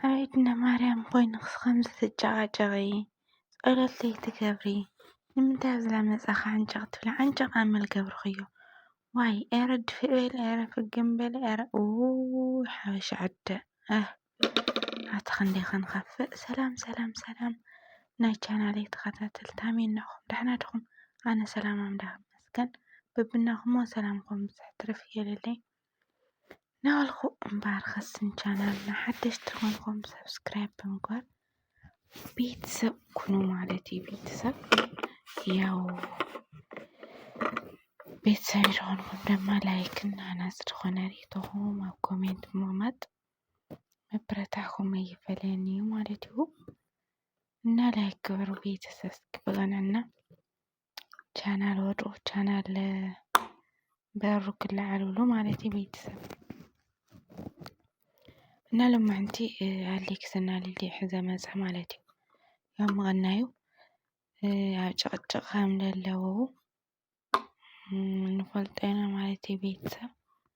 ኣቤት ንማርያም ኮይንክስ ከምዚ ትጨቓጨቒ ጸሎት ዘይትገብሪ ንምንታይ ኣብዚ ዳመጻኺ ዓንጨቕ ትብሊ ዓንጨቕ ኣመል ገብርኽዮ ዋይ ኤረ ድፍእ በሊ ኤረ ፍግም በሊ ኤረ እውይ ሓበሻ ዕደ ኣህ ኣቲ ክንደይ ክንኸፍእ ሰላም ሰላም ሰላም ናይ ቻናለይ ተኸታተልቲ ኣሜን ንዕኹም ዳሕና ድኹም ኣነ ሰላም ኣምላኽ ይመስገን በብናኹሞ ሰላምኩም ብዝሕ ትርፍ የለለይ ናበልኩ እምበር ኸስን ቻናል ንሓደሽቲ ኾንኩም ሰብስክራይብ ብምግባር ቤተሰብ ኩኑ ማለት እዩ። ቤተሰብ ያው ቤተሰብ ዝኾንኩም ድማ ላይክ እና ናፅ ዝኾነ ሬቶኹም ኣብ ኮሜንት ብምቕማጥ መበረታዕኹም ኣይፈለየን እዩ ማለት እዩ እና ላይክ ግበሩ ቤተሰብ እስኪ ብቐንዕና ቻናል ወዱ ቻናል በሩ ክለዓል ብሎ ማለት እዩ ቤተሰብ እና ሎማንቲ ኣሌክስ እና ሊሊ ሕዘ መፀ ማለት እዩ ያው ምቐናዩ ኣብ ጭቕጭቕ ከም ዘለዉ ንፈልጦ ኢና ማለት እዩ ቤተሰብ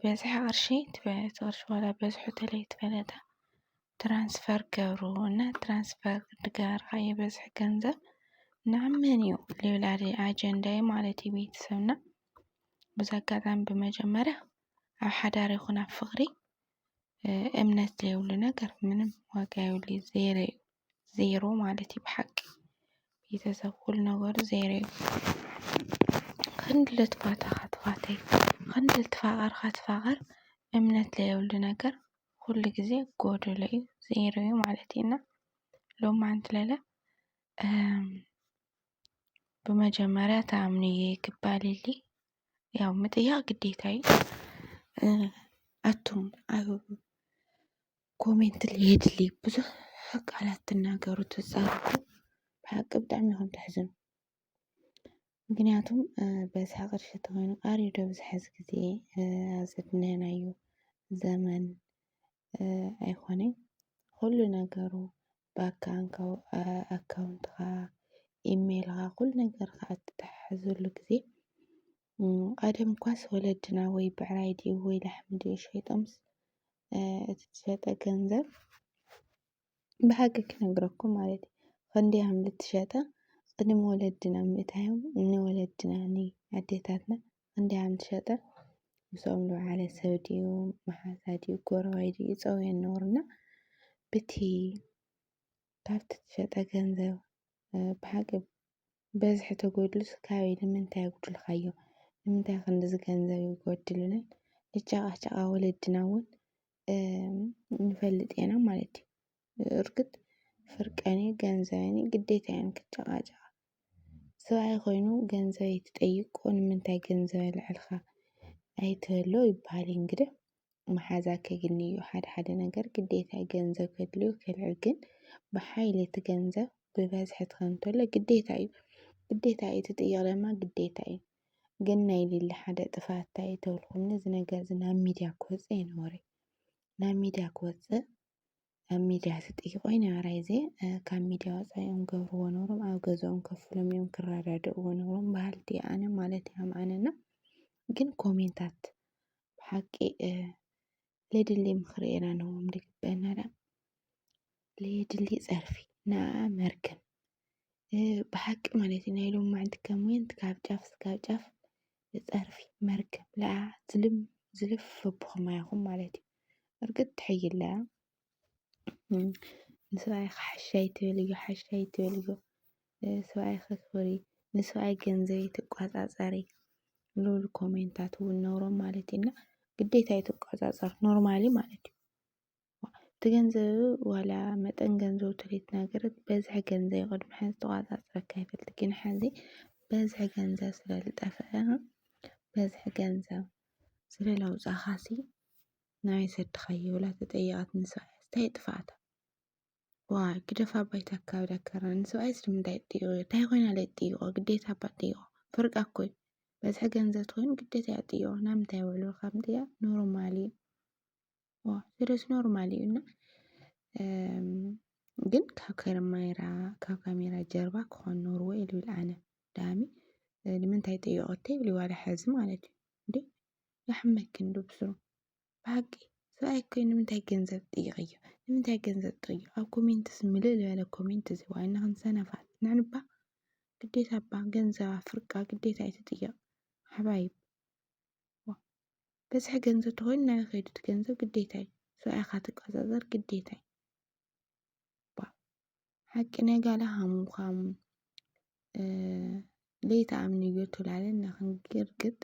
በዝሒ ቅርሺ እቲ ቅርሺ ዋላ በዝሑ ተለይተፈለጠ ትራንስፈር ገብሩ እና ትራንስፈር ዝገበርካዮ በዝሒ ገንዘብ ናብ መን እዩ ልብል ኣለ ኣጀንዳይ ማለት እዩ ቤተሰብና። በዚ ኣጋጣሚ ብመጀመርያ ኣብ ሓዳር ይኹን ኣብ ፍቕሪ እምነት ዘይብሉ ነገር ምንም ዋጋ የብሉይ ዜሮ እዩ ዜሮ ማለት እዩ ብሓቂ ቤተሰብ ኩሉ ነገሩ ዜሮ እዩ። ክንዲ ልትፋታኻ ትፋተይ ክንዲ ልትፋቀርካ ትፋቀር እምነት ዘይብሉ ነገር ኩሉ ግዜ ጎዶሎ እዩ ዜሮ እዩ ማለት እዩ። እና ሎማዓንቲ ለለ ብመጀመርያ ትኣምንዬ ክባል እሊ ያው ምጥያቅ ግዴታ እዩ። ኣቱም ኣብ ኮሜንት ልየድሊ ብዙሕ ቃላት ትናገሩ ትዛረቡ ብሓቂ ብጣዕሚ ኢኹም ተሕዝኑ። ምክንያቱም በዝሒ ቅርሺ ተኾይኑ ቃርዩ ዶ ኣብዚ ሕዚ ግዜ ኣብዚ ዝድነናዮ ዘመን ኣይኾነይ ኩሉ ነገሩ ኣካውንትኻ ኢሜልኻ ኩሉ ነገርካ እትተሓሕዘሉ ግዜ ቀደም እኳስ ወለድና ወይ ብዕራይ ድዩ ወይ ላሕሚ ድዩ ሸይጦምስ እቲ ዝሸጠ ገንዘብ ብሓቂ ክነግረኩም ማለት እዩ ክንደይ ሃም ዝትሸጠ ቅድሚ ወለድና ምእታዮም ንወለድና ንኣዴታትና እንድያ ምሸጠ ምስኦም ዝወዓለ ሰብ ድዩ መሓዛ ድዩ ጎረባይ ድዩ ይፀውዮ ነበሩ እና ብቲ ካብቲ ትሸጠ ገንዘብ ብሓቂ በዝሒ ተጎድሉስ ካበይ ንምንታይ ኣጉድልካዮ ንምንታይ ክንድዚ ገንዘብ ይጎድልናን ንጫቓጫቓ ወለድና እውን ንፈልጥ ኢና ማለት እዩ። እርግጥ ፍርቀን እዩ ገንዘበን እዩ ግዴታየ ን ክጨቓጨቓ ሰብኣይ ኮይኑ ገንዘበይ ትጠይቆ ንምንታይ ገንዘብ ኣልዕልካ ኣይትበሎ ይበሃል እዩ እንግዲ መሓዛ ከግኒ እዩ ሓደ ሓደ ነገር ግዴታ እዩ ገንዘብ ከድልዮ ከልዕል ግን ብሓይሊ እቲ ገንዘብ ብበዝሒ ትኸን እንተሎ ግዴታ እዩ ግዴታ እዩ እቲ ጥይቕ ድማ ግዴታ እዩ ግን ናይ ሊሊ ሓደ ጥፋት እንታይ እዩ ተብልኩምኒ እዚ ነገር እዚ ናብ ሚድያ ክወፅእ ኣይነበሮይ ናብ ሚድያ ክወፅእ ኣብ ሚድያ ትጥይቆ ኣይነበራ እዘ ካብ ሚድያ ወፃኢ እዮም ገብርዎ ነሮም ኣብ ገዛኦም ከፍሎም እዮም ክረዳድእዎ ነሮም በሃልቲ እየ ኣነ ማለት እዩ ከም ኣነ እና ግን ኮሜንታት ብሓቂ ለድሊ ምኽሪ ኢና ንህቦም ድግበና ደኣ ለየድሊ ፀርፊ ንኣ መርገም ብሓቂ ማለት እዩ ናይ ሎማዓንቲ ከም ወንት ካብ ጫፍ ስጋብ ጫፍ ጸርፊ መርገም ለኣ ዝልም ዝልፍ ኣቦኹም ኣያኹም ማለት እዩ እርግጥ ትሕይላ ንሰብኣይካ ሓሻይ ትበልዮ ሓሻይ ትበልዮ ሰብኣይካ ክበሪ ንሰብኣይ ገንዘብ ትቋጻጸሪ ልብል ኮሜንታት እውን ነውሮም ማለት እዩና ግዴታ እዩ ትቋጻጸር ኖርማሊ ማለት እዩ እቲ ገንዘብ ዋላ መጠን ገንዘቡ ትሪት ነገር በዝሒ ገንዘብ እዩ ቅድሚ ሕዚ ተቖፃፂረኪ ኣይፈልጥን ግን ሕዚ በዝሒ ገንዘብ ስለ ዝጠፍአ በዝሒ ገንዘብ ስለ ለውፃእኻሲ ናበይ ሰድኻዮ ብላ ተጠየቐትኒ ሰብኣያ እንታይ ጥፍኣታ ዋይ ግደፋ ባይታ ኣካብዳ ከረን ንሰብኣይስ ንምንታይ ትጥይቖ እንታይ ኮይና ለይ ትጥይቖ ግዴታ እባ ትጥይቖ ፍርቃ እኮ እዩ በዝሒ ገንዘብ ትኮይኑ ግዴታ እያ ትጥይቖ ናብ ምንታይ ውዕሉ ካብ ምጥያቕ ኖርማል እዩ ዋው ስደት ኖርማል እዩ እና ግን ካብ ከርሜራ ካብ ካሜራ ጀርባ ክኾን ኖርወ ኢሉ ኢል ኣነ ዳሚ ንምንታይ ጠየቐቶ ይብል ዋላ ሕዚ ማለት እዩ እንዴ ያሕመክን ዱብስሩ ብሓቂ ሰብኣይ ኮይ ንምንታይ ገንዘብ ጥይቕዮ ንምንታይ ገንዘብ ጥይቕ ኣብ ኮሜንትስ ምልእ ዝበለ ኮሜንት እዚ ዋይ ንኽን ሰነፋት ንዕንባ ግዴታ እባ ገንዘብ ኣፍርቃ ግዴታ ኣይትጥየቕ ሓባይብ በዝሒ ገንዘብ ተኾይኑ ናበይ ከይዱ እቲ ገንዘብ ግዴታ እዩ ሰብኣይ ኢኻ ትቀፃፀር ግዴታ እዩ ባ ሓቂ ናይ ጋላ ሃሙን ኳሙን ለይቲ ኣምንዮ ትብላለና ክንግርግጥ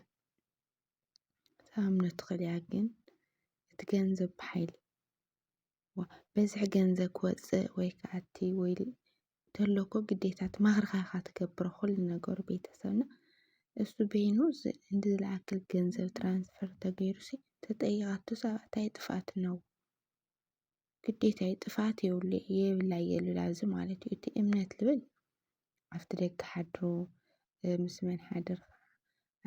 ተኣምኖ ትኽእል እያ ግን እቲ ገንዘብ ብሓይሊ በዝሒ ገንዘብ ክወጽእ ወይ ክኣቲ ወይ ተሎ እኮ ግዴታ ተማኽርካ ኢኻ ትገብሮ ኩሉ ነገር ቤተሰብና እሱ በይኑ እንዲ ዝለኣከል ገንዘብ ትራንስፈር ተገይሩሲ ተጠይቓቶ ሳብ እንታይ ጥፍኣት ነው ግዴታ እዩ ጥፍኣት የብሉ የብላ የሉላ እዚ ማለት እዩ እቲ እምነት ልብል ኣብቲ ደገ ሓድሮ ምስ መን ሓደርካ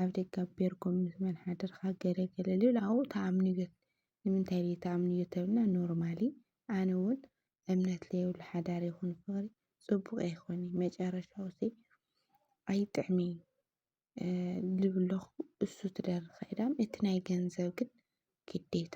ኣብ ደገ ኣቢርኩም ምስ መን ሓደርካ ገለ ገለ ልብል ኣብኡ ተኣምንዮ ንምንታይ ድዩ ተኣምንዮ ተብልና ኖርማሊ ኣነ እውን እምነት ለየብሉ ሓዳር ይኹን ፍቕሪ ፅቡቕ ኣይኮነ መጨረሻው ሲ ኣይጥዕሚ ልብለኹ እሱ ትደርኸ ኢዳም እቲ ናይ ገንዘብ ግን ግዴታ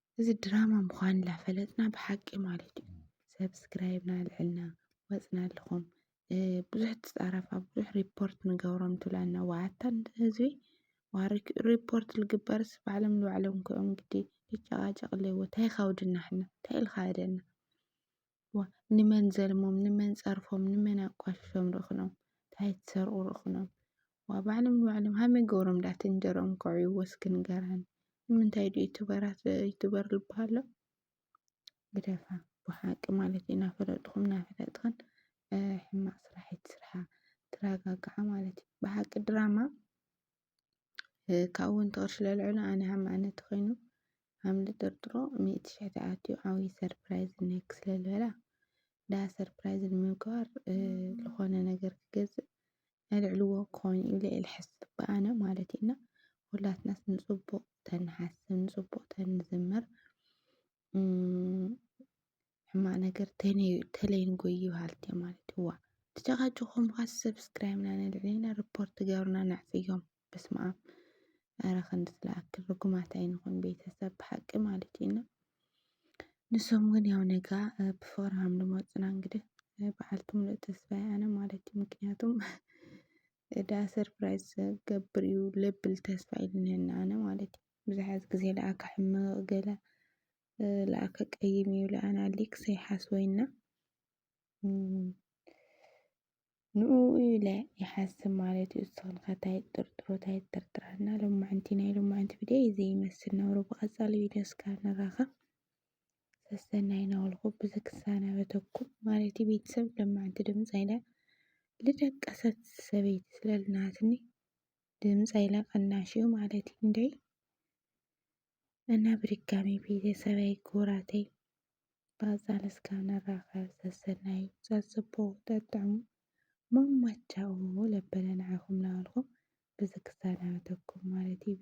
እዚ ድራማ ምዃኑ ላፈለጥና ብሓቂ ማለት እዩ ሰብስክራይብ ናልዕልና ወፅና ኣለኹም ብዙሕ ትፃረፍ ኣብ ብዙሕ ሪፖርት ንገብሮም ትብላና ዋኣታ ህዝቢ ዋርክ ሪፖርት ልግበርስ ባዕሎም ንባዕሎም ክኦም ግዲ ልጨቓጨቕ ኣለዎ ታይ ኻውድና ሕና ታይ ኢልኻ እደና ዋእ ንመን ዘልሞም ንመን ጸርፎም ንመን ኣቋሽሾም ርኽኖም ታይ ትሰርቁ ርኽኖም ዋእ ባዕሎም ንባዕሎም ሃመይ ገብሮም ዳኣ ትንጀርኦም ከዕብዩ ወስኪ ንገራኒ ንምንታይ ድዩ ዩቱበራት ዩቱበር ልባሃሎ ግደፋ ብሓቂ ማለት እዩ ናፈለጥኹም ናፈለጥኽን ሕማቅ ስራሕ ኣይትስርሓ ትረጋግዓ ማለት እዩ ብሓቂ ድራማ ካብኡ እውን ተቕርሺ ለልዕሉ ኣነ ሃም ኣነ ተኾይኑ ሃም ልጥርጥሮ ሚእቲ ሽሕ ተኣትዩ ዓብዪ ሰርፕራይዝ ነክ ስለልበላ ዳ ሰርፕራይዝ ንምግባር ዝኾነ ነገር ክገዝእ ኣልዕልዎ ክኾን ኢለ እየ ልሓስብ ብኣነ ማለት እዩ እና ሁላትናስ ንፅቡቕ ተንሓስብ ንፅቡቕ ተንዝምር ሕማቅ ነገር ተለይን ጎይ ይበሃል ማለት እዋ ተጨቃጭቆም ኳ ሰብስክራይብ ና ነልዕልና ሪፖርት ገሩና ነዕፅዮም በስመ ኣብ ኣረ ክንዲ ዝለኣክል ርጉማት ኣይንኹን ቤተሰብ ብሓቂ ማለት እዩ እና ንሶም ግን ያው ነጋ ብፍቅሪ ሃም ዝመፁና እንግዲህ በዓልቲ ሙሉእ ተስፋይ ኣነ ማለት እዩ ምክንያቱም እዳ ሰርፕራይዝ ገብር እዩ ለብል ተስፋ ኢልንህና ኣነ ማለት እዩ ብዙሓት ግዜ ለኣካ ሕምቅ ገለ ለኣከ ቀይም እዩ ለኣና ሊክ ሰይሓስወይና ንኡ ኢለ ይሓስብ ማለት እዩ እስኽን ከታይ ጥርጥሮ ታይ ጥርጥራና ሎማዕንቲ ናይ ሎማዕንቲ ቪድዮ እዩ ዘይመስል ነብሮ ብቐፃሊ ቪድዮ እስካብ ንራኸብ ሰሰናይ ናበልኩ ብዚ ክሰናበተኩም ማለት እዩ ቤተሰብ ሎማዕንቲ ድምፂ ኢለ ልደቀሰት ሰበይቲ ስለልናትኒ ድምፂ ኢለ ቀናሽ እዩ ማለት እዩ እንደይ እና ብድጋሚ ቤተሰበይ ክቡራተይ ብኣጻል እስካብ ንራኸብ ሰሰናዩ ጸጽቦ ጠጥዑ ማማቻኡ ለበለ ንዓኹም ናበልኩ ብዚ ክሰናበተኩም ማለት እዩ።